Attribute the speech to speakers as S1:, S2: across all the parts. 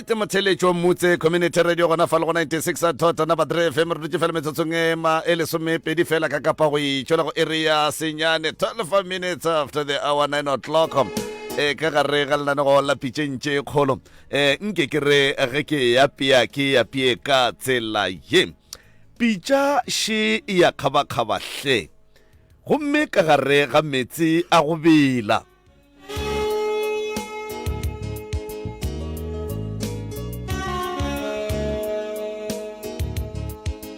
S1: right motheletši wa mmutse community radio gona fa le go 96 a thota number 3 fm re dutse fela metsotsong e ma e lesomepedi fela ka kapa go itšola go area senyane 12 minutes after the hour 9 o'clock eh, ka gare ga lenanego la pitšeng tše kgolo eh, nke ke re ge ke e apea ke e apee ka tsela ye pitša še e ya kgabakgaba hle gomme ka gare ga meetse a go bela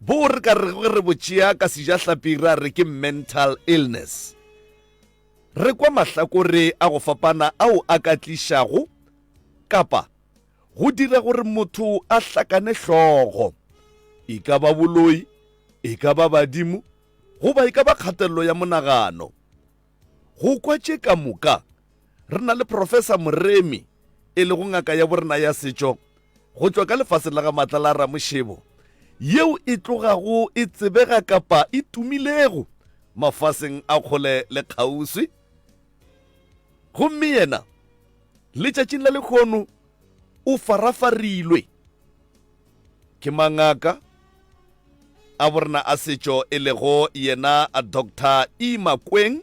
S1: Bo re ka rego ge re bo tšea ka sejahlapi ra re ke mental illness. Re kwa mahlakore a go fapana ao a ka tlišago kapa go dira gore motho a hlakane hlogo, e ka ba boloi, e ka ba badimo goba e ka ba kgatelelo ya monagano. Go kwa tše ka moka, re na le Profesa Moremi, e lego ngaka ya borena ya setšo go tšwa ka lefaseng la ga Matla la Ramošebo, yeo e tlogago e tsebega kapa e tumilego mafaseng a kgole le kgauswi. Gomme yena, letšatšing la lekgono, o farafarilwe ke mangaka a borena a setšo e lego yena Doctor E. Makweng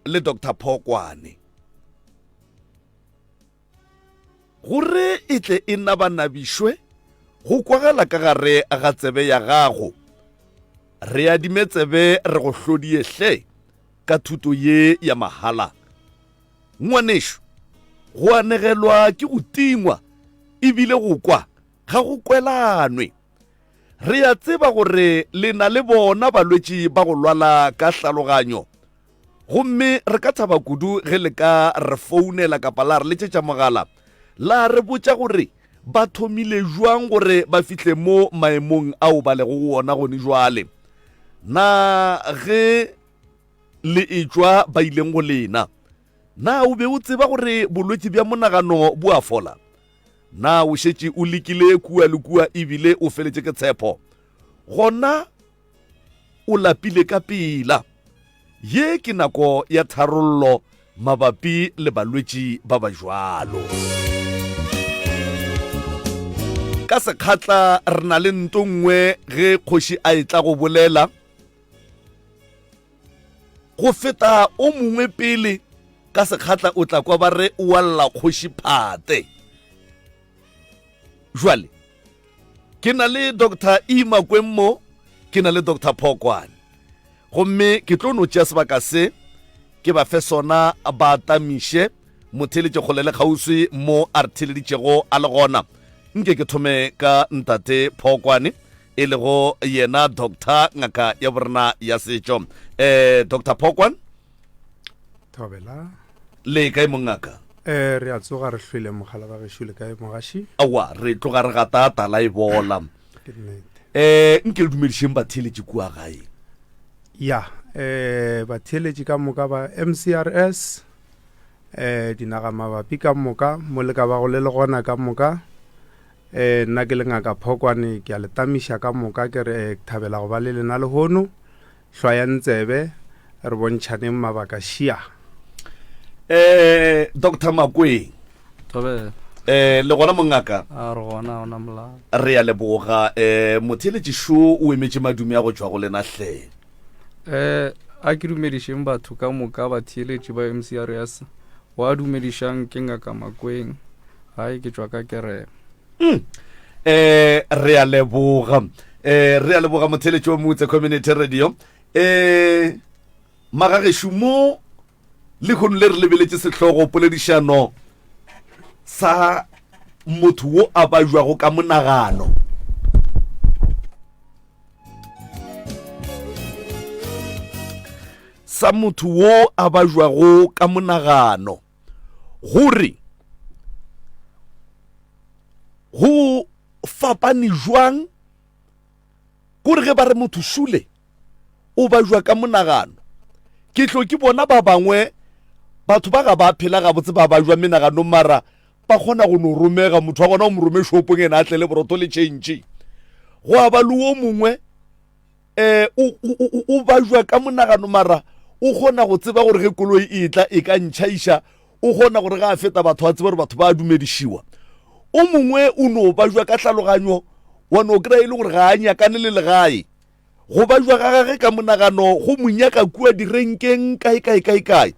S1: le Doctor Phokwane gore e tle e na ba nabišwe go kwagala ka gare ga tsebe ya gago. Re adime tsebe re go hlodie hle ka thuto ye ya mahala. Ngwanešu, go anegelwa ke go tingwa e bile go kwa ga go kwelanwe. Re a tseba gore le na le bona balwetši ba go lwala ka hlaloganyo, gomme re ka thaba kudu ge le ka re founela kapa la re letšetša mogala la re botša gore ba thomile bjang gore ba fihle mo maemong ao ba lego go ona gone bjale. Na ge Le etšwa ba ileng go lena. Na o be o tseba gore bolwetši bja monagano bo a fola? Na o šetše o lekile kua le kua e bile o feletše ke tshepho? Gona o lapile ka pela. Ye ke nako ya tharollo mabapi le balwetši ba ba jwalo. Ka sekgatla re na le nto nngwe ge kgoši a etla go bolela. go feta o mongwe pele ka sekgatla o tla kwa ba re o walla kgoši phate jwale ke na le dr e makweng mo ke na le dr phokwane gomme ke tlo no tšea sebaka se ke ba fe sona ba tamiše motheletše kgole le kgauswi mo a re theleditšego a le gona nke ke thome ka ntate phokwane e lego yena doctor ngaka ya borena ya setšo um doctor phokwan
S2: thobela le
S1: kae mongaka um re a tsoga
S2: re hlwele mogala ba gešo le kae mogaši aowa re tloga re
S1: gata tala e bola um nke le dumedišeng batheeletši kua gae ya
S2: um batheeletši ka moka ba mcrs um dinaga mabapi ka moka mo le ka ba go le le gona ka moka Ee, nna ke le Ngaka Phokwane, ke a le tamiša ka moka ke re, ke thabela go ba le lena lehono. Hlwayang tsebe, re bontšhaneng mabaka. Šia! Eh,
S1: Doctor Makweng. Thobela.
S3: Eh, le gona
S1: mongaka? A re gona, ha ona
S3: molao. Re a leboga.
S1: Eh, motheeletši Šo o emetše madumi a go tšwa go lena hle. um
S3: a ke dumedišeng batho ka moka batheeletši ba mcrs wa dumedišang ke ngaka makweng ga e ke tšwa ka kerema um eh,
S1: re a leboga um re a leboga motheletši wa motse community radio um eh, magagešu mo lekgono le re lebeletše sehlogo poledišano sa motho wo a bajwago ka monagano sa motho wo a bajwago ka monagano gore go fapane jwang kore ge ba re motho šule o bajwa ka monagano ke tlo ke bona ba bangwe batho ba ga ba phela gabotse ba bajwa menagano mara ba kgona go no romega motho wa gona o mo rome shopong ene a tle le borotho le change go a ba le o mongwe eh o- o o- o bajwa ka monagano mara o kgona go tseba gore ge koloi e tla e ka ntšhaiša o kgona gore ga a feta batho a tseba gore batho ba a dumedišiwa o mongwe o no bajwa ka tlhaloganyo wa no kry-a e le gore ga a nyakane le legae go bajwa ga gage ka monagano go mo nyaka kua direnkeng kae kae kae kae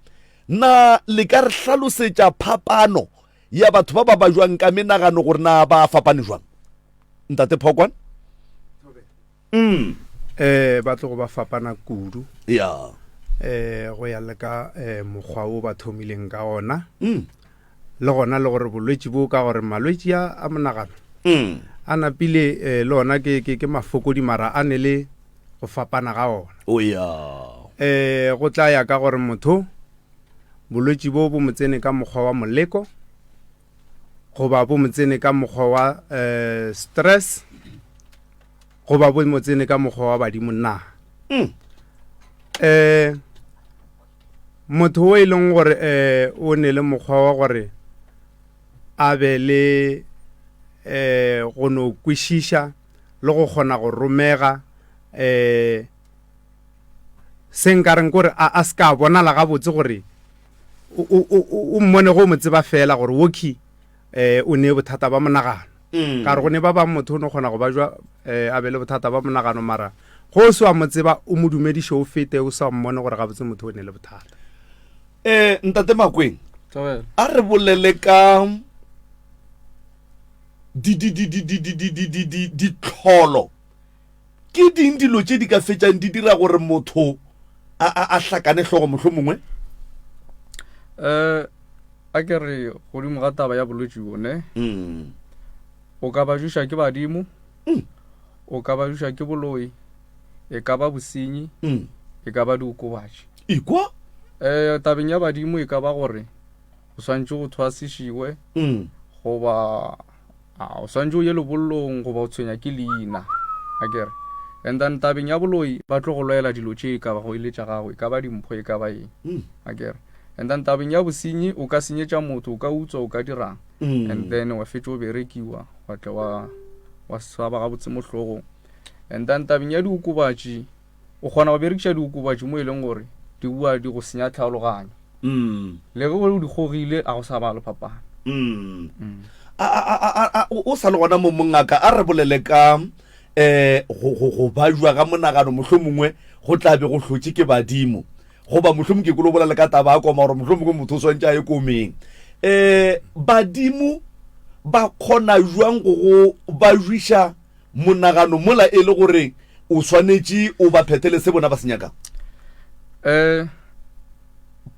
S1: na le ka re hlalosetša phapano ya batho ba ba bajwang ka menagano gore na ba fapane jwang ntate phokwane mm.
S2: eh ba tlogo ba fapana kudu ya
S1: eh go
S2: ya le ka eh mokgwa o ba thomileng ka ona mm. le gona le gore bolwetši bo ka gore malwetši a a monagano mm. a napile eh, le ona ke, ke, ke mafokodi mara a ne le go fapana ga ona oh, yeah.
S1: eh,
S2: go tla ya ka gore motho bolwetši bo bo motsene ka mokgwa wa moleko goba bo motsene ka mokgwa wa eh, stress goba bo motsene ka mokgwa wa badimo na mm. eh, Motho o e leng gore um o ne le mokgwa wa gore a be le um go no kwešiša le go kgona go romega um se nkareng kore a se ka bonala gabotse gore o mmone go mo tseba fela gore woki um o ne bothata ba monagano mm. ka re go ne ba bang motho o ne kgona go ba jwa um a be le bothata ba monagano mara go o se wa mo tseba o mo dumediše o fete o sa mmone gore gabotse motho o ne le bothata um
S1: ntate makweng a re bolele ka ditlholo Ke ding dilo tše di ka fetšang di dira gore motho a, a, a hlakane hlogo mohlo mongwe?
S3: Eh, a ke re godimo ga taba ya bolwetši bone, mm. o ka ba juša ke badimo, mm. o ka ba juša ke boloi, e ka ba bosenyi, mm. e ka ba diokobatši. Ikwa?
S1: Eh, tabeng
S3: ya badimo e ka ba gore o swantše go thwasišiwe, mm. goba A o swantše o ye lebollong goba o tshwenya ke leina? A ke re, And then tabeng ya boloi ba tlo go lwela dilo tše e ka bago e le tša gago, e ka ba dimpho e ka ba eng. A ke re, And then tabeng ya bosenyi o ka senyetša motho, o ka utswa, o ka dirang, and then wa fetša o berekiwa, wa tle wa, wa swaba gabotse mo hlogong. And then tabeng ya diokobatši o kgona go berekiša diokobatši mo e leng gore di bua di go senya tlhaologanyo mm. le ge o di gogile ga go sa ba le phapano mm. mm.
S1: o sa le gona mo mongaka a re bolele ka eh go go go ba jwa ga monagano mohlomongwe go tla be go hlotse ke badimo goba mohlomong ke kolo bolela ka taba a koma gore mohlomongwe motho o swantse a e komeng eh badimo ba khona jwang go go ba jwisha monagano mola e le gore o swanetše o ba phethele se bona ba se nyakago?
S3: um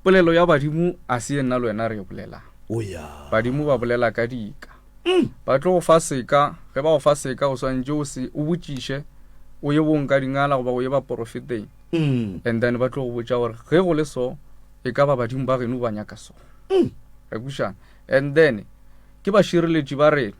S3: polelo ya badimo a se ye nna le wena re e bolelago o ya
S1: badimo ba bolela
S3: ka dika mm. ba tlo go fa seka ge ba go fa seka o swantše o se o botšiše o ye bong ka dingala goba o ye baporofeteng mm. and then ba tlo go botša gore ge go le so e ka ba badimo ba geno ba nyaka so mm. re kušana and then ke bašireletši ba rena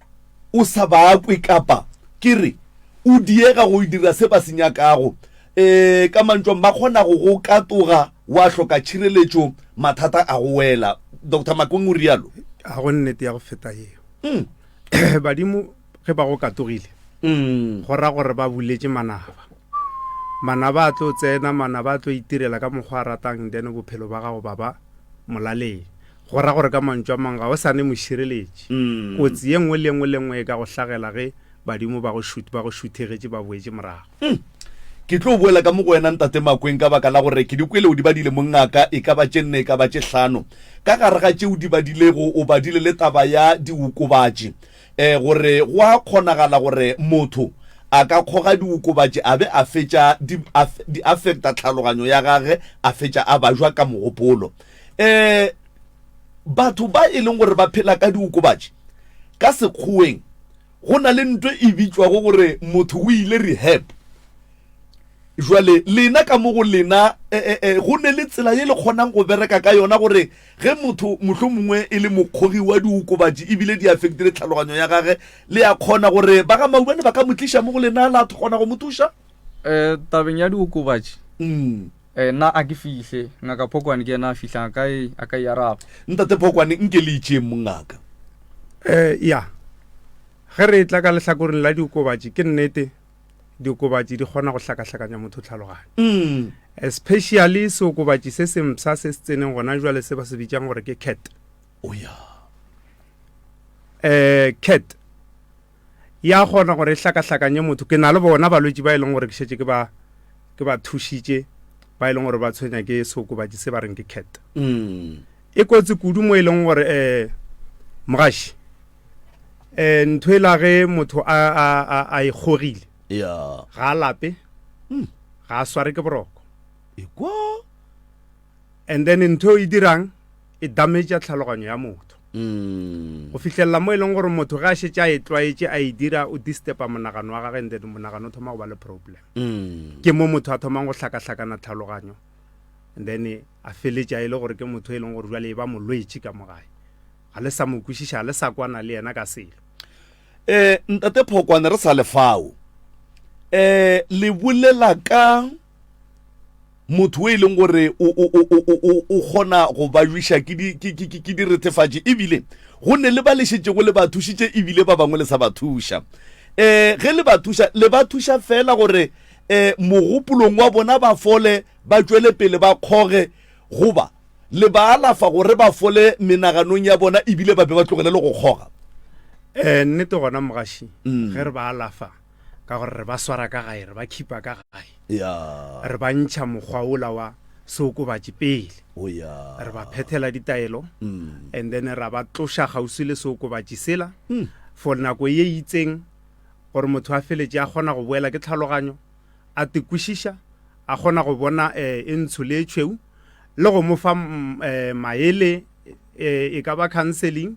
S1: o sa ba kwe kapa ke re o diega go dira se ba se nyakago. E, ka mantšong ba kgona go go katoga wa hloka tšhireletšo mathata a go wela. Dr Makweng o rialo. Ga go nnete ya go
S2: feta yeo. Mm. Badimo ge ba go katogile mm. go ra gore ba buletše manaba mana ba tlo tsena mana ba tlo itirela ka mokgwa a ratang then bophelo ba gago baba molaleng Go ra gore ka mantšu a mang ga o sa ne mošireletši. Kotsi ye nngwe le ye nngwe le nngwe e ka go hlagela ge badimo ba go ba go šuthegetše ba boetše morago. Umm. Ke
S1: tlo boela ka mo go wena, Ntate Makweng, ka baka la gore ke di kwele o di badile mo ngaka, e ka ba tše nne e ka ba tše hlano. Ka gare ga tše o di badilego o badile le taba ya diokobatši, eh, gore go a kgonagala gore motho a ka kgoga diokobatši a be a fetša di a di affecta tlhaloganyo ya gage a fetša a bajwa ka mogopolo. Eh, batho ba e leng gore ba phela ka diokobatši ka sekgoweng go na le nto e bitšwago gore motho o ile rehab jwale lena ka mo go lena eh, eh, eh, go ne le tsela ye le kgonang go bereka ka yona gore ge motho mohlho mongwe e le mokgogi wa diokobatši ebile di affectile tlhaloganyo ya gage le ya kgona gore ba ga maubane ba ka mo tliša mo go lena la kgona go mo thuša um tabeng
S3: ya diokobatši mm. Ee, nna a ke fihle. Ngaka Phokwane ke yena a fihlang, a ka e, a ka e araba. Ntate Phokwane, nke
S1: le itšeeng mongaka. Ee,
S2: ya. Ge re etla ka lehlakoreng la diokobatši, ke nnete, diokobatši di kgona go hlakahlakanya motho tlhaloganyo. Especially seokobatši se sempsha se se tseneng gona jwale se ba se bitšang gore ke cat. O ya. Ee, cat. ya kgona gore e hlakahlakanye motho. Ke na le bona balwetši ba e leng gore ke šetše ke ba ke ba thušitše ba e leng gore ba tshwenya ke seokobatši se ba reng ke cat mm. e kotsi kudu mo e leng gore um eh, mogaši um ntho e lage motho a e kgogile ga a lape hmm. ga a sware ke boroko And then ntho e dirang e dametša tlhaloganyo ya motho mm. go fihlelela mo e leng gore motho ge a šetse a e tlwaetše a e dira o distupa monagano wa gage and then monagano o thoma go ba le problem mm. ke mo motho a thomang go hlakahlakana tlhaloganyo and then a feletša e le gore ke motho e leng gore jale e ba molwetše ka mo gae ga le sa mo kwešiša ga le sa kwana le yena ka selo um
S1: ntate phokwane re sa lefao um le bolela ka motho e leng gore o kgona go ba jwiša ke diretefatši ebile go ne le ba le šetšego le ba thušitše ebile ba bangwe le sa ba thuša um eh, ge le ba thuša le ba thuša fela gore um mogopolong wa bona ba fole ba tšwele pele ba kgoge goba le ba alafa gore ba fole menaganong ya bona ebile ba be ba tlogele le go kgoga um
S2: nnete gona mogaši mm. ge re ba alafa Ka gore re ba swara ka gae, re ba khipa ka gae. Ya. Re ba ntšha mokgwa ola wa seokobatši pele. O ya. Re ba phethela ditaelo, mm. and then ra ba tloša kgauswi le seokobatši sela, mm. for nako ye itseng, gore motho a feletše a kgona go boela ke tlhaloganyo, a tekwišiša, a kgona go bona eh, e ntsho le e tšhweu, le go mo fa mm, eh, maele eh, e ka ba counseling,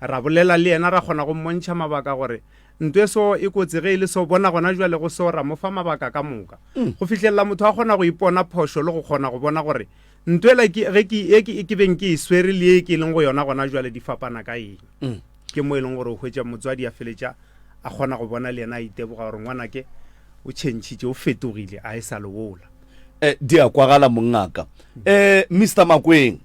S2: ra bolela le yena, ra kgona go mmontšha mabaka gore Ntweso e kotsi ge e le so bona gona jwale go so ra mo fa mabaka ka moka. Mm. Go fihlelela motho a kgona go ipona phošo le go kgona go bona gore ntwela ke ge ke e ke ke beng ke e swere le e ke leng go yona gona jwale di fapana ka eng. Mm. Ke mo e leng gore o hwetša motswadi a feletša a kgona go bona le yena a iteboga gore ngwanake o tšhentšhitše o fetogile a e sa lewola. Eh, di a
S1: kwagala mongaka. Eh, Mr Makweng,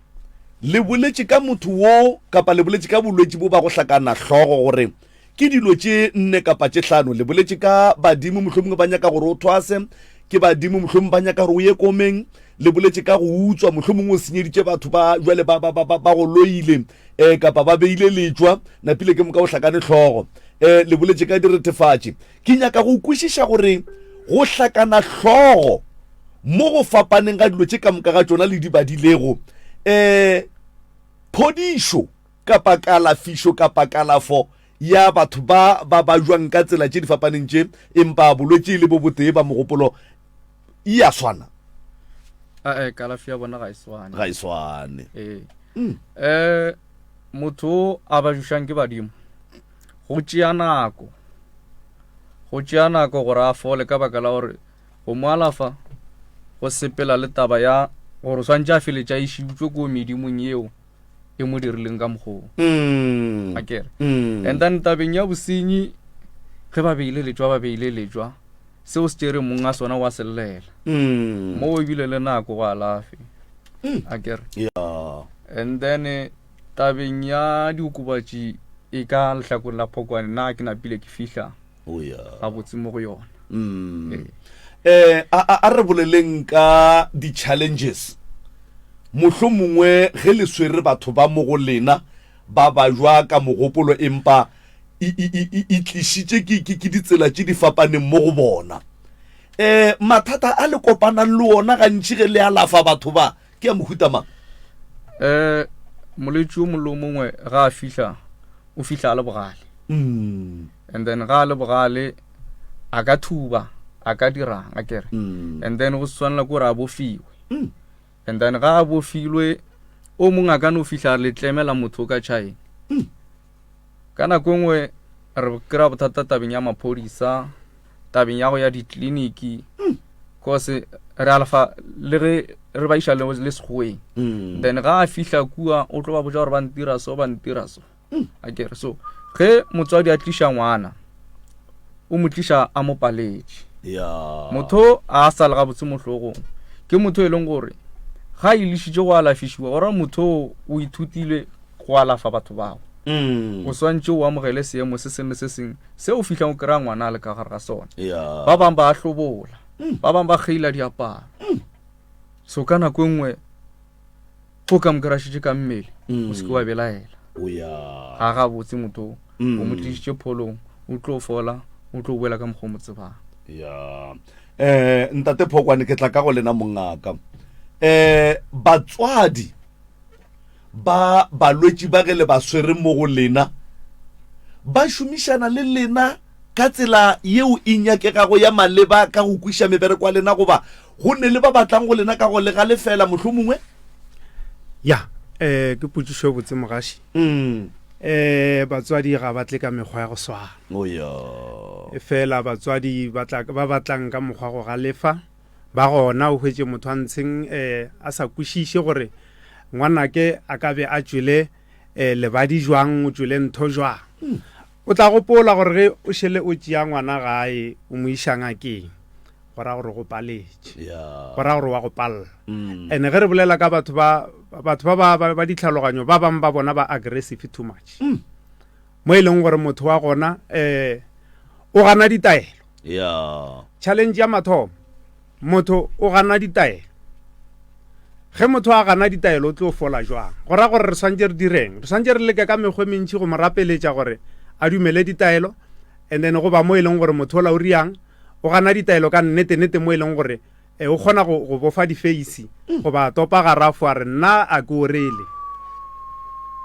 S1: le boletše ka motho wo kapa le boletše ka bolwetši bo ba go hlakana hlogo gore Ke dilo tše nne kapa tše hlano. Le boletše ka badimo, mohlomongwe ba nyaka gore o thwase. Ke badimo, mohlomongwe ba nyaka gore o ye komeng. Le boletše ka go utswa, mohlomongwe o senyeditše batho ba jwale ba, ba, ba, ba, ba go loile um kapa ba beile letšwa, napile ke moka o hlakane hlogo. Um le boletše ka diretefatši. Ke nyaka go kwešiša gore go hlakana hlogo mo go fapaneng ga dilo tše ka moka ga tšona le di badilego um phodišo. kapa kalafišo kapa kalafo ya batho ba ba bajwang ka tsela tše di fapaneng tše empa bolwetši le bo botee ba mogopolo e a swana ae
S3: kalafi ya bona ga e swane ga e swane
S1: ee um
S3: motho o a bajušang ke badimo go tšea nako go tšea nako gore a fole ka baka la gore go mo alafa go sepela le taba ya gore o swantše a feletša e šiutswe ko medimong yeo e mo dirileng ka mokgoo mm. a kere mm. and then tabeng ya bosenyi ge ba beile letswa ba beile letswa seo se tšere mong a sona wa sellela mm. mo ebile le nako go alafe mm. a kere yeah. and then eh, tabeng ya diokobatši e ka lehlakong la phokwane na ke napile ke fihla gabotse mo go yona
S1: um a re boleleng ka di-challenges mohlho mongwe ge le swere batho ba mo go lena ba ba jwa ka mogopolo empa e tlišitše ke ditsela tše di fapaneng mo go bona um mathata a le kopanang le ona gantši ge le alafa batho ba ke a mohuta mang um
S3: molwetši yo mollo mongwe ga a fihla o fihla a le bogale mm. and then ga le bogale a ka thuba a ka dirang a kere mm. and then go swanela gore a bofiwe mm. and then ga a bofilwe o mongwe a ka no fitlha le tlemela motho ka china mm. ka nako e nngwe re kry-a bothata tabeng ya maphodisa tabeng ya go ya ditleliniki cause re alafa le ge re ba iša le segoweng then ga a fihla kua o tlo ba boja gore ba ntira so ba ntira so hmm, a kere so ge motswadi a tliša ngwana o mo tliša a mo paletše motho a sa le gabotse mohlogong ke motho e leng gore ga a ilešitše go alafišiwa gore motho o ithutile go alafa batho bao hmm. o swantše o amogele seemo se sengwe se sengwe se o fitlhang o kry-a ngwana a le ka gare ga sone ba bangwe ba a hlobola hmm. ba bangwe ba kgeila diaparo so ka nako e nngwe o ka mokerašitše ka mmele o seke wa belaela ga ga botse motho o mo tlišitše pholong o tlo fola o tlo boela ka mokgwa o mo tsebang ya um
S1: ntate phokwane ke tla ka go lena mongaka um eh, batswadi ba balwetši ba ge le ba swere mo go lena ba šomišana le lena ka tsela yeo e nyakegago ya maleba ka go kwiša mebereko ya lena goba Go nne le ba ba tlang go lena ka go le galefela, mohlomongwe. Ya, eh,
S2: ke potšišo e botse, mogaši. Mm. Eh, batswadi ga ba tle ka mekgwa ya go swana. Oh, ya. Efela batswadi ba tla ba batlang ka mokgwa go galefa, ba gona o hwetše motho a ntsheng eh a sa kwešiše gore ngwanake a ka be a tšwele eh lebadi jwang, o tšwele ntho jwang. Mm. O tla gopola gore ge o šele o tšea ngwana gae o mo iša ngakeng, go ra gore o go paletše, go ra gore wa go palla. Ene ge re bolela ka batho ba batho ba ba ba ditlhaloganyo ba bang ba bona ba aggressive too much, mo e leng gore motho wa gona um o gana ditaelo. Challenge ya mathomo. Motho o gana ditaelo. Ge motho a gana ditaelo o tlo fola jwang? Go ra gore re swantše re direng? Re swantše re leke ka mekgwe mentši go mo rapeletša gore a dumele ditaelo, and then go ba mo e leng gore motho ola o riang o gana ditaelo ka nnete-nete mo e leng gore eh, o kgona go, go bofa difeisi goba a topa garafo a re nna a ke orele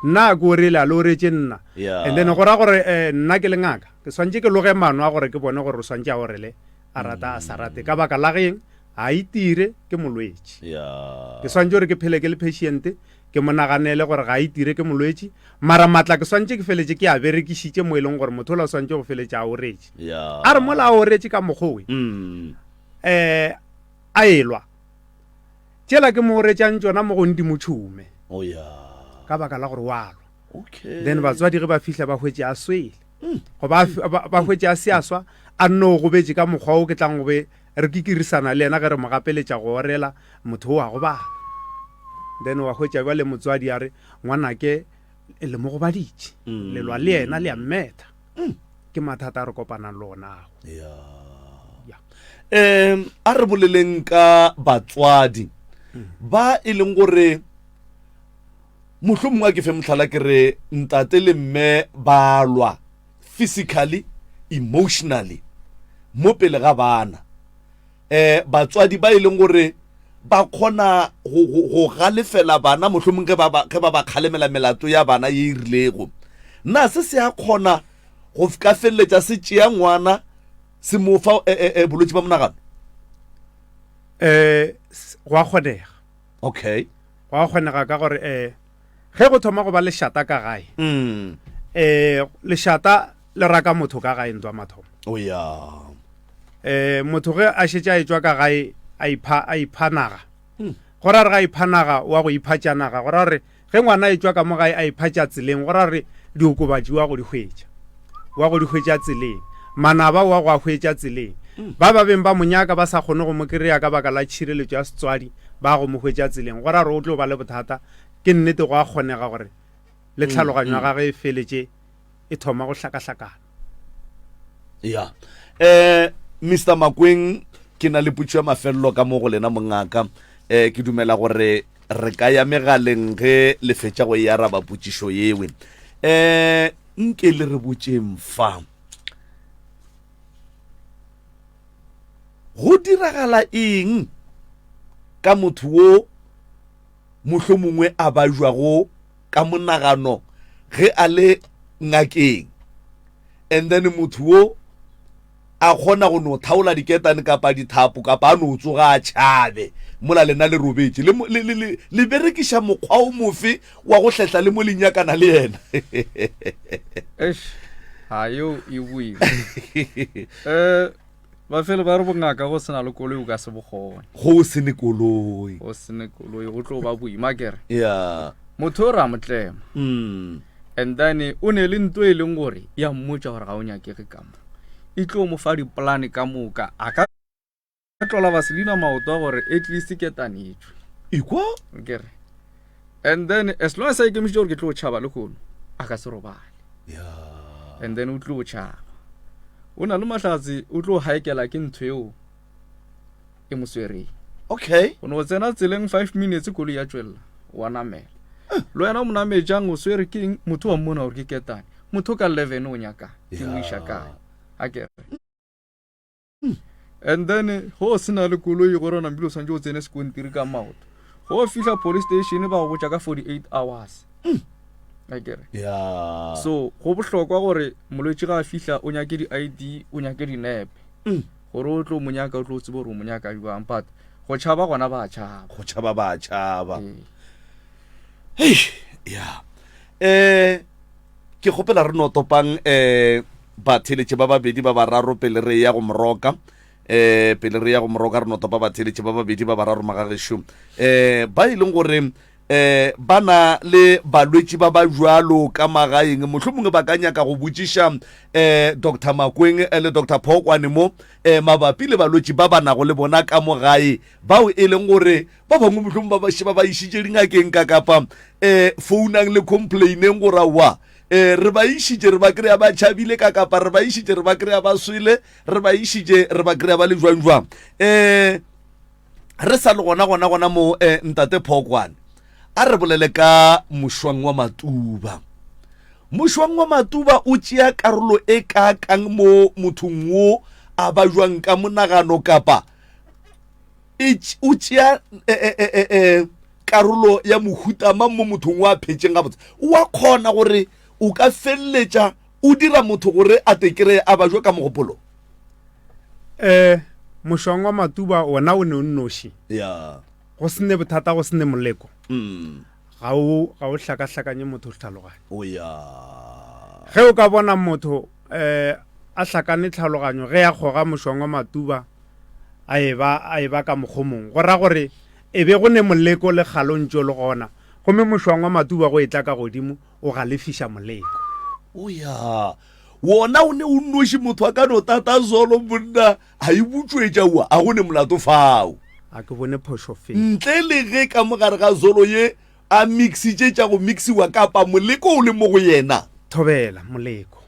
S2: nna a ke orele a le oretše nna yeah. and then go ra gore eh, nna ke lengaka ke swantše ke loge mano a gore ke bone gore o swantše a orele a rata a sa rate ka baka la geng a itire ke molwetši ke swantse gore ke phele ke le patiente ke mo naganele gore ga itire ke molwetši mara matla ke swantse ke feletse ke a berekišitše mo e leng gore motho o la swantse go feletse a oretše a re mola a oretše ka mokgowe um a elwa tšela ke mo oretsang tsona mo go ndimo tšhume oh, ka baka la gore walwa then batswadi ge ba fihla ba hwetse a swele go ba ba hwetše a se a swa a nne o gobetše ka mokgwa o ke tlang go be re kikirisana le yena ge re mo gapeletša go orela motho o wa gobala then wa hwetša ba le motswadi a re ngwanake le mo gobaditše mm. lelwa le yena le a mmetha mm. ke mathata a re kopanang le onago um
S1: a re boleleng ka batswadi mm. ba e leng gore Mohlomongwe a ke fe mohlala ke re ntate le mme ba lwa physically, emotionally mo pele ga bana. Um batswadi ba e leng gore ba kgona go galefela bana mohlomong ge ba ba kgalemela melato ya bana ye e rilego, na se se a kgona go ka feleletša se tšea ngwana se mo fa bolwetši ba monagano?
S2: Um gwa kgonega. okay
S1: go a kgonega
S2: ka gore eh ge go thoma go ba lešata ka gae mm. eh lešata le raka motho ka gae ntwa mathomo o ya eh motho ge a šetša e tswa ka gae a ipha a ipha naga hmm. go ra re ga ipha naga wa go ipha tša naga go ra gore Ge ngwana etšwa ka mo gae a iphatša tseleng, go ra re diokobatši wa go di hwetša. Wa go di hwetša tseleng. Manaba wa go a hwetša tseleng. Mm. Ba ba beng ba monyaka ba sa kgone go mo kereya ka baka la tšhireletšo ya setswadi ba go mo hwetša tseleng. Go ra re o tlo ba le bothata. Ke nnete go a kgonega gore le mm, tlhaloganyo ya mm. gage e feletše e thoma go hlakahlakana ya
S1: um mr makweng ke na le putšo ya mafelelo ka mo go lena mongaka um ke dumela gore re ka ya megaleng ge le fetša go e araba putšišo yewe um nke le re botšeng fa go diragala eng ka motho wo mohlomongwe a bajwago ka monagano ge a le ngakeng and then motho wo a kgona go no thaola diketane kapa dithapo kapa a no tsoga a tšhabe mola lena le robetše le, le, le, le, le berekiša mokgwa o mofe wa go hletla le mo le nyakana le yena Eish,
S3: ha yo e boima. Eh, Bafelo ba re bongaka go sena le koloi o ka se bokgone. Go se ne
S1: koloi. Go se ne koloi
S3: go tlo ba boima kere. Yeah.
S1: Motho o ra
S3: motlema. Mm. And then o ne le nto e leng gore ya mmotsa gore ga o nyakege ka mo. E tlo mo fa dipolane ka moka a ka tlola Vaseline maoto gore at least ketanetswe. Ikwa?
S1: Kere.
S3: and then as long as a ikemišitše gore ke tlo tšhaba le kono a ka se robale yeah. and then o tlo tšhaba o na le mahlatsi o tlo haekela ke ntho eo e mo swereng okay o ne o
S1: tsena tseleng
S3: five minutes kolo ya tswelela wa namela le wena mo namejang o swere ke eng motho wa mmona gore ke ketane motho ka leven o nyaka ke mo iša kae a kere And then go se na le koloi gore o nambile o tshwanetse o tsene sekontiri ka maoto go fihla police station ba go botša ka 48 hours akere ya so go bohlokwa gore molwetši ga a fihla o nyake di-id o nyake dinepe gore o tlo mo nyaka o tlo tsebe gore o mo nyaka jwang but go tšhaba gona ba tšhaba go tšhaba ba tšhaba Ee. Hei, ya
S1: um ke kgopela re no topang um batheletše ba babedi ba bararo pele re ya go moroka eh pele re ya go moroka re no topa batheletše ba babedi ba bararo magagešo um ba e leng gore um ba na le balwetši ba ba jalo ka magaeng mohlho mongwe ba ka nyaka go botšiša um dr makweng eh, le dr phokwane mo um mabapi le balwetši ba ba nago le bona ka mo gae bao e leng gore ba bangwe mohlong ba baše ba ba išitše dingakeng ka kapa um eh, founang le complaineng gore aowa um eh, re ba išitše re ba kry-a ba tšhabile ka kapa re ba išitše re ba kry-a ba swele re ba išitše re ba kry-a ba le jwang jwang um re sa le gona gona gona mo um ntate phokwane a re bolele ka mošwang wa matuba mošwang wa matuba o tšea karolo e ka kang mo mothong wo a ba jwang ka monagano kapa e o tšea e, e, e, e, e, karolo ya mohuta mang mo mothong wa phetšeng gabotse wa kgona gore o ka feleletša o dira motho gore a tekere a bajo ka mogopolo um
S2: mošwang wa matuba ona o ne o nnoši ya go sene bothata go sene moleko mm. ga o ga o hlakahlakanye motho tlhaloganyo o ya ge o ka bona motho a hlakane tlhaloganyo ge a kgoga mošongwa matuba a eba a eba ka mokgomong go ra gore e be go ne moleko le kgalontšo le gona gomme mošongwa matuba go etla ka godimo o galefiša moleko o ya
S1: wona o ne o nnoši motho a ka no tata zolo monna a e butšwetša ua a go ne molato fao a ke bone phošo
S2: fe ntle le ge ka
S1: mogare ga zolo ye A mixitše tša go mixiwa kapa moleko o le mo go yena? Thobela, moleko.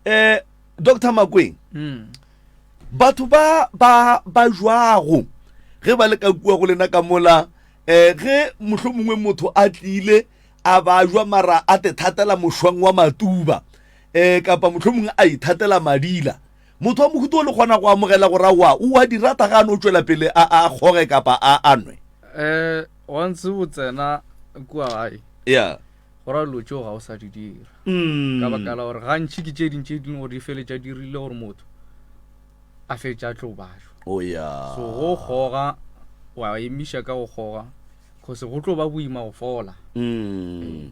S2: Eh,
S1: Doctor Makweng, batho ba ba ba jwago ge ba le ka kua go lena ka mola, eh, ge mohlomongwe motho a tlile a ba jwa mara a te thatela mošwang wa matuba, eh, kapa mohlomongwe a ithatela madila, Motho wa mohuta wo le kgona go amogela gore aowa o a di rata ge a no tšwela pele a a kgoge kapa a a nwe? Ee, once
S3: o tsena kua gae, Yeah. go ra dilo tšeo ga o sa di dira ka Mm. baka la gore gantši ke tše ding tše ding gore di feletša di rile gore motho a feletša a tlo bajwa Oh, yeah. so go kgoga wa emiša ka go kgoga cause go tlo ba boima go fola Mm.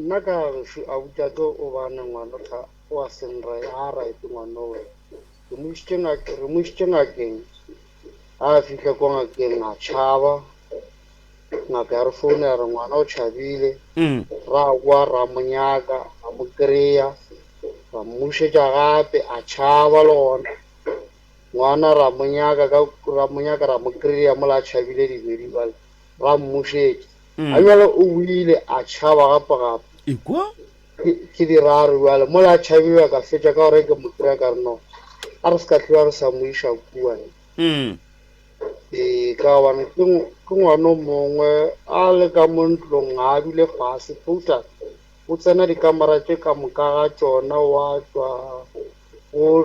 S4: Nna ka gešo Auta tlo o bane ngwano tha o a seng ri a right ngwanowe. Ke mo išitše ngak re mo išitše ngakeng a fihla ko ngakeng a tšhaba. Ngaka ya re founa ya re ngwana o tšhabile. Ra boa ra mo nyaka ra mo kry-a ra mmušetša gape a tšhaba le gona. Ngwana ra mo nyaka ka ra mo nyaka ra mo kry-a mola a tšhabile dibedi bjale ra mmušetša. A bjale o wile, a tšhaba gapegape. Ekwa! Ke,
S1: ke di
S4: raro bjale. Mola a tšhabile, a ka fetša ka gore ke mo kry-a ka re, No, a re se ka tloga re sa mo iša kua. Ee, ka gobane ke, ke ngwana o mongwe, a le ka mo ntlong, ga a dule fase. Tota, o tsena dikamera tše ka moka ga tšona, wa tšwa, o.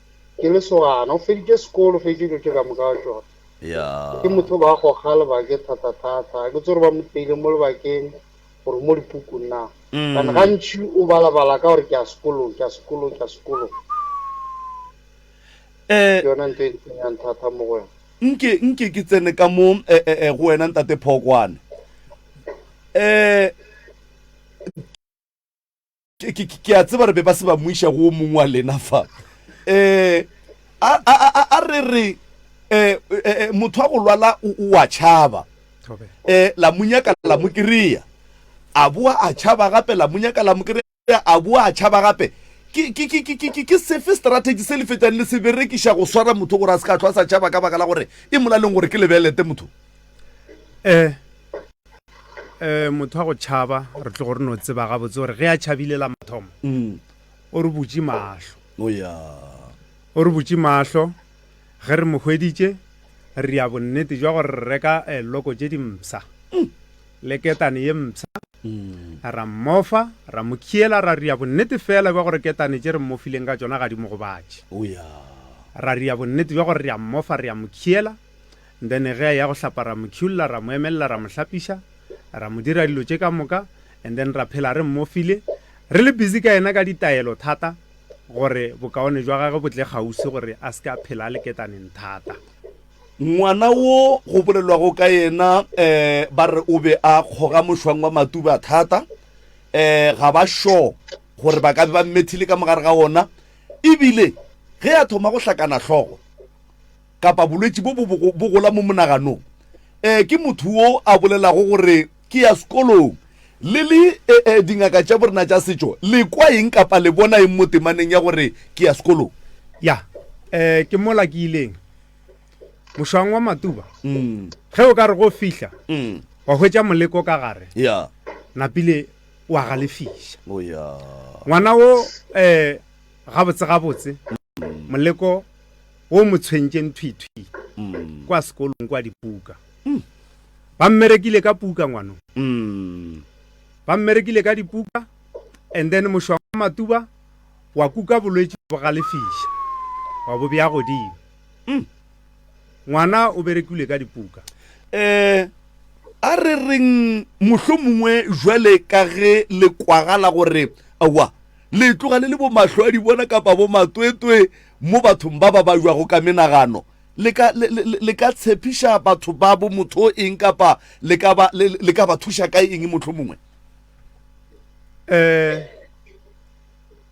S1: Ke
S4: lesogana, o feditše sekolo, o feditše dilo tše ka moka wa tšona. Ke motho
S1: ba
S4: goga lebake thatathata, a ke tsore ba mo teile mo lebakeng gore mo dipukung na. Kana gantši o balabala ka gore ke ya sekolong, ke ya sekolong, ke ya sekolong. Ke yona ntho e ntsenyang thata mo go wena. Nke, nke ke tsene ka
S1: mo go wena Ntate Phokwane. ke a tseba re be ba se ba moiša go o mongwe wa lena fa um a re re um motho wa go lwala o a tšhaba um la monyaka la mo kry-a a boa a tšhaba gape la monyaka la mo kry-a a boa a tšhaba gape ke sefe strategy se le fetang le se berekiša go swara motho gore a se ka tlho a sa tšhaba ka baka la gore e molaleng gore ke lebelete motho um
S2: um motho wa go tšhaba re tlogo re no tseba gabotse gore ge a tšhabile la mathomo mm. o re butše mahlo oh, o re butše mahlo ge re mo hweditše re ya bonnete jwa gore re reka eh, loko tše dimsa mm. le ketane ye msa mm. ra mmofa ra mo khiela ra ria bonnete fela jwa gore ketane tše re mmofileng ka tsona ga di mo gobatše oh, ra ria bonnete jwa gore re a mmofa re ya mo khiela And then ge a ya go hlapa ra mo tšhulla, ra mo emelela, ra mo hlapiša, ra mo dira dilo tše ka moka, and then ra phela re mmofile, re le busy ka yena ka ditaelo thata gore bokaone jwa gage bo tle kgauswi gore a se ke a phela a le ketaneng thata. Ngwana
S1: wo go bolelwago ka yena um ba re o be a kgoga mošwang wa matuba thata, um ga ba sure gore ba ka be ba mmethile ka mogare ga wona, e bile ge a thoma go hlakana hlogo, kapa bolwetši bo bo gola mo monaganong, e, ke motho wo a bolelago gore ke ya sekolong. Le le, e, e, dingaka tša borena tša setšo, le kwa eng kapa le bona eng mo temaneng ya gore ke ya sekolong? Ya,
S2: e, ke mola ke ileng mošwang wa matuba, mm. ge o ka re go fihla, mm. wa hwetša moleko ka gare, ya, napile wa galefiša, oh, ya, ngwana wo, e, gabotse gabotse, mm. moleko o mo tshwentšeng thwithwi kwa sekolong kwa dipuka. Ba mmerekile ka puka ngwano. Ba mmerekile ka dipuka and then mošwang wa matuba wa kuka bolwetši bo galefiša wa bo bja godimo. Ngwana o berekilwe ka dipuka. Um
S1: a re reng mohlomongwe jwale ka ge le kwagala gore aowa le tloga le le bomahlo a di bona kapa bomatwetwe Mo bathong ba ba baiwago ka menagano, le ka, le, le, le ka tshepiša batho babo motho o eng, kapa le ka ba, le, le ka ba thuša ka eng, mohlomongwe? Ee,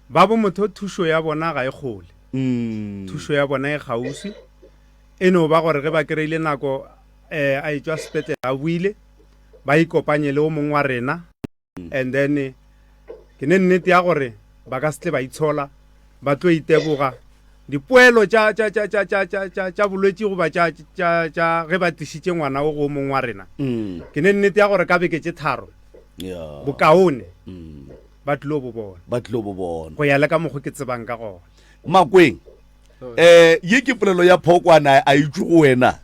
S2: babo motho thušo ya bona ga e kgole. Mm. Thušo ya bona e kgauswi. E no ba gore ge ba kry-ile nako, ee, a etšwa sepetlele a boile, ba ikopanye le o mongwe wa rena, and then ke ne nnete ya gore ba ka se tle ba itshola ba tlo iteboga dipoelo tša bolwetši goba tša ge ba tlišitše ngwana o go mongwe wa rena mm. ke ne nnete ya gore ka beke tše tharo bokaone mm. ba tlilo bo bona ba tlilo bo bona go ya le ka mokgwa ke tsebang ka gona makweng
S1: um ye ke polelo ya phokwana a itse go wena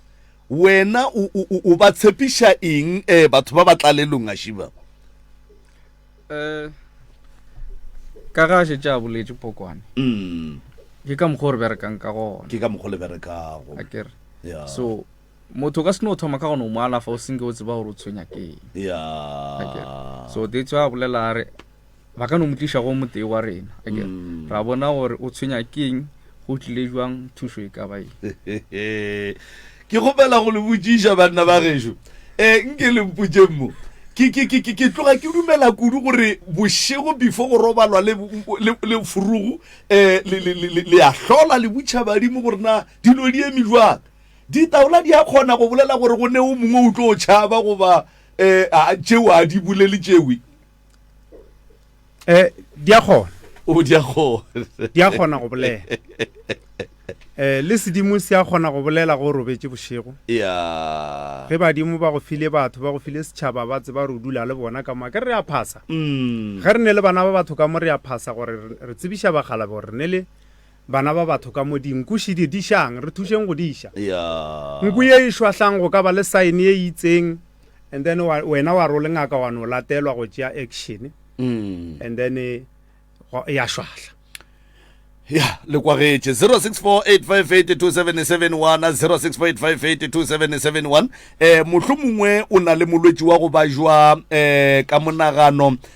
S1: Wena o, o, o, o ba tshepiša eng eh, batho ba ba tlalelong gaši ba? Eh,
S3: ka ge a šetše a boletše pokwane, Mm, ke ka mokgwa o re berekang ka gona, ke ka mokgwa le berekago.
S1: a ke re. Ya,
S3: So, motho o ka se no thoma ka gona o mo alafa o senke o tseba gore o tshwenya ke eng. ya. A ke re. So, that's why a bolela a re, ba ka no mo tliša go motee wa rena ake mm. ra bona gore o tshwenya keng go tlile jwang thušo e ka baeng
S1: ke gopela go le botsiša banna ba gešo um nke lempotšeng mo ke tloga ke dumela kudu gore bošego before go robalwa le furugu um le ya hlola le butšha badimo gore na dilo di eme jwang ditaola di a kgona go bolela gore go ne o mongwe o tlo tšhaba goba um tšeo a di bolele tšewe eh
S2: di a kgona o di a
S1: kgona di a kgona go bolela
S2: eh le sedimo se a kgona go bolela go robetse bošego ya
S1: ge badimo ba go
S2: file batho ba go file setšhaba ba tseba re dula le bona ka moa ke re a phasa mm. ge re ne le bana ba batho ka mo re a phasa gore re tsebiša bagalabe gore ne le Bana ba batho ka mo dinku še di dišang, re thušeng go di ša. Nku ye e šwahlang go ka ba le sign ye e itseng and then wena wa re o le ngaka wa no latelwa go tšea action mm. and then ya šwahla ya
S1: le kwagetše 0648582771 0648582771 eh mohlomongwe o na le molwetši wa go ba jwa eh ka monagano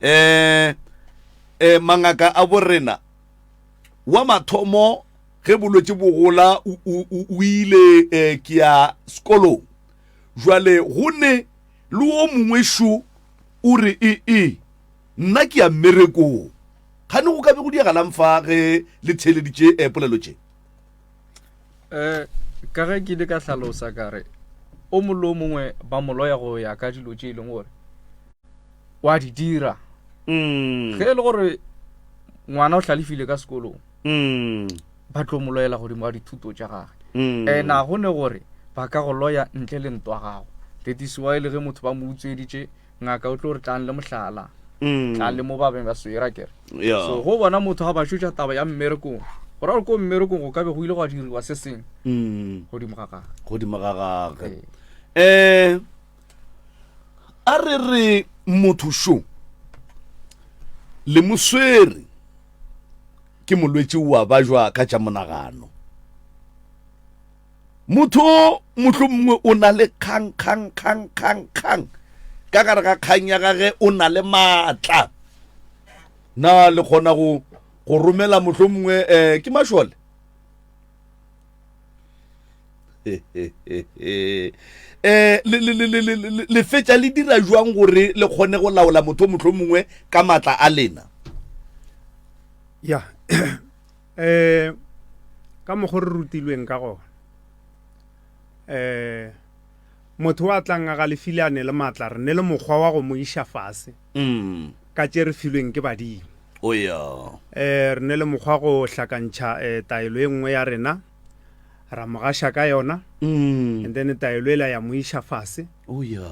S1: Eh, eh, mangaka a borena wa mathomo ge bolwetši bogola o ile eh, ke ya sekolong jwale go ne le wo mongwe šo o re ee e, nna ke ya mmerekong gane go ka be go diagalang fa ge le theeleditše eh, polelo tše um
S3: ka ge ke ile ka hlalosa ka re o mongwe le o mongwe ba moloya go ya ka dilo tše e leng gore wa di dira mm. ge e le gore ngwana o hlalefile ka sekolong mm. ba tlo mo loyela godimo ga dithuto tša gage mm. and a go ne gore ba ka go loya ntle le ntwa gago that is why le ge motho ba mo utsweditše Ngaka o tlo re tlang le mohlala. Tlang le mo ba beng ba swere, a ke re. So go bona motho ga ba šotša taba ya mmerekong, go ra gore ko mmerekong go ka be go ile gwa diriwa se seng godimo ga gage. Godimo ga gage.
S1: Um A re re motho šo le mo swere ke molwetši wa ba jwa ka tša monagano. Motho o mohlomongwe o na le kgang, kgang, kgang, kgang, kgang. Ka gare ga kgang ya gage o na le maatla. Na le kgona go go romela mohlomongwe eh, ke mašole? eh le le le le le fetša le dira jwang gore le kgone go laola motho mohlomongwe ka matla a lena
S2: ya um ka mokgo re rutilweng ka gona um motho wa tlang a galefile a ne le maatla re ne le mokgwa wa go mo iša fase mm. ka tše re filweng ke badimo o ya um re ne le mokgwa go hlakantšha um taelo e nngwe ya rena ra mo gaša ka yona mm. and then taelo ela ya mo iša fase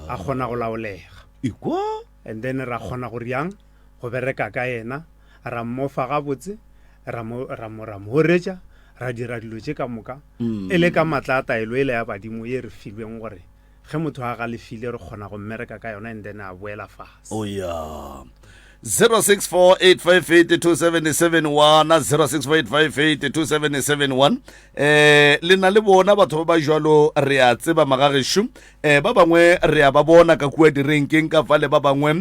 S2: a kgona go laolega ikwa And then ra kgona go reang go bereka ka yena, ra mmofa gabotse, ra mo, ra mo, ra mo horetša, ra dira dilo tše ka moka, e le ka matla a taelo ele ya badimo ye re filweng gore ge motho a galefile re kgona go mmereka ka yona and then a boela fase. O ya. 0648582771
S1: wana 0648582771 eh le na le bona batho ba ba jalo re a tseba magagešo eh, ba bangwe re a ba bona ka kua direnkeng ka fale ba bangwe um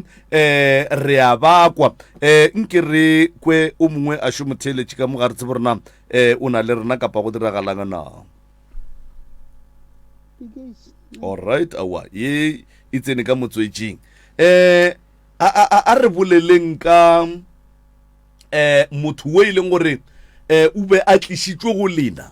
S1: re a bakwa um eh, nke re kwe o mongwe a šo motheeletše ka mo ga re tsebo rena um o na le rena kapa go diragalanga na allright awa ye e tsene ka motswetseng um a re boleleng ka um motho o e leng gore um o be a tlisitswe go lena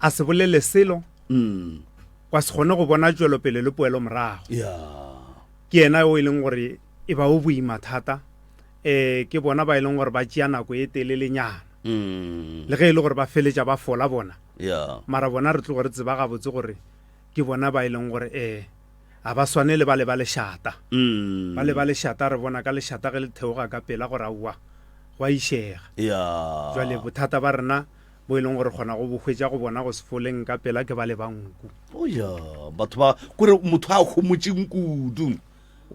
S2: a se bolele selo mm. kwa se kgone go bona tšwelopele le poelo morago ke yena o e leng gore e ba o boima thata um ke bona ba e leng gore ba tšea nako e telelenyana mm. le ge e le gore ba feletša ba fola bona mara bona re tlogo re tseba gabotse gore ke bona ba e leng gore um ga ba swane le ba le ba lešata mm. ba le ba lešata re bona ka lešata ge le theoga ka pela gore aowa go a išega jale bothata ba rena bo e leng gore kgona go bo hwetša go bona go sefoleng ka pela ke ba le ba nku oya batho
S1: ba kore motho a kgomotseng kudu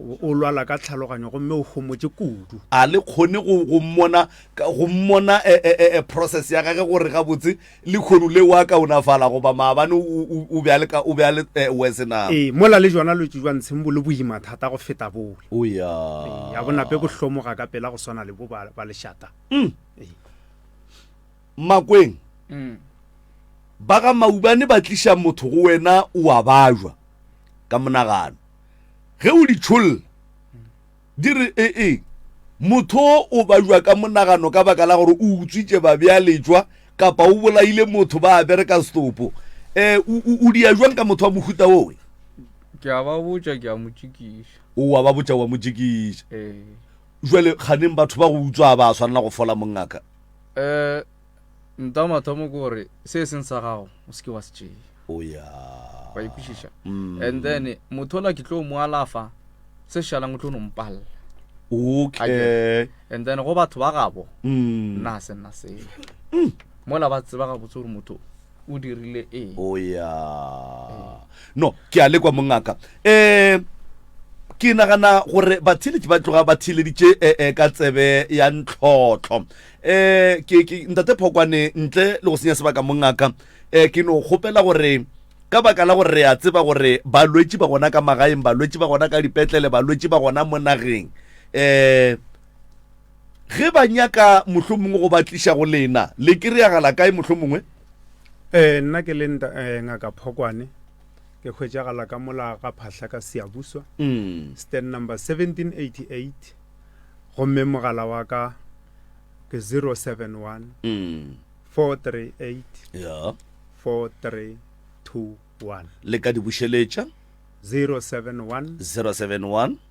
S1: o lwala
S2: ka tlhaloganyo gomme o gomotse kudu a le kgone go
S1: go mmona ka- go mmona eh, eh, eh, eh, process ya gage gore gabotse le kgono le wa kaonafala goba maabane o- o o be a le ka- o be a le eh, worse na ee mola le jona lotse
S2: jwa ntsheng bo le boima thata go feta bole oya ya bonape bo hlomoga ka pela go swana le bo ba ba lešata
S1: mmakweng mm. ba ga maubane ba tliša motho go wena o a bajwa ka monagano ge o ditšholla di re ee e, motho o bajwa ka monagano ka baka la gore o utswitše babjalejwa kapa o bolaile motho ba bereka setopo um o dia jwang ka motho wa mohuta owe ke a ba
S3: botša ke a mo tšikiša owa ba botša wa mo
S1: tšikiša ee. Bjale, kganeng batho ba go utswa ba swanela go fola, mongaka? Ee,
S3: nta mathomo ke gore, se e seng sa gago, o se ke wa se tšea. O ya.
S1: Wa e kwešiša?
S3: And then, motho ola ke tlo mo alafa, se šalang o tlo no mpalla. Okay.
S1: And then, go
S3: batho ba gabo, nna ga se nna seo. Mola ba tseba gabotse gore motho o. o dirile eng o ya
S1: no ke a lekwa mongaka um ke nagana gore batheletši ba tloga ba theleditše eh, eh, ka tsebe ya ntlhotlho um ke ke- ntate phokwane ntle le go senya sebaka mongaka um ke no kgopela gore ka baka la gore re a tseba gore balwetši ba gona ka magaeng balwetši ba gona ka dipetlele balwetši ba gona mo nageng um Ge ba nyaka mohlomongwe go ba tliša go lena, le kry-agala kae mohlomongwe? Ee, nna
S2: ke le nta, eh, Ngaka Phokwane. Ke hwetšagala ka mola ga phahla ka Seabuswa, mm. stand number 1788, gomme mogala wa ka ke 071 mm. 438
S1: yeah. 4321.
S2: Le ka di bušeletša?
S1: 071 071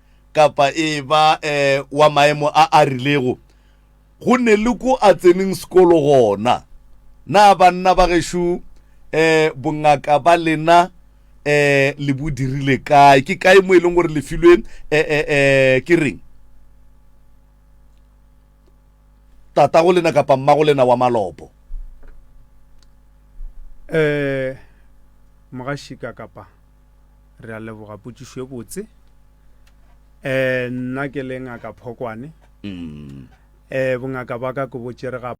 S1: kapa e ba eh, wa maemo a a rilego, go ne le ko a tseneng sekolo gona. Na banna ba gešo eh, bongaka ba lena eh, le bo dirile kae? Ke kae mo e leng gore le filwe eh, eh, eh, ke reng? tata go lena kapa mma go lena wa malopo eh
S2: mogašika kapa re a leboga potšišo e botse um nna ke le ngaka phokwane um bongaka ba ka ke bo tšere ga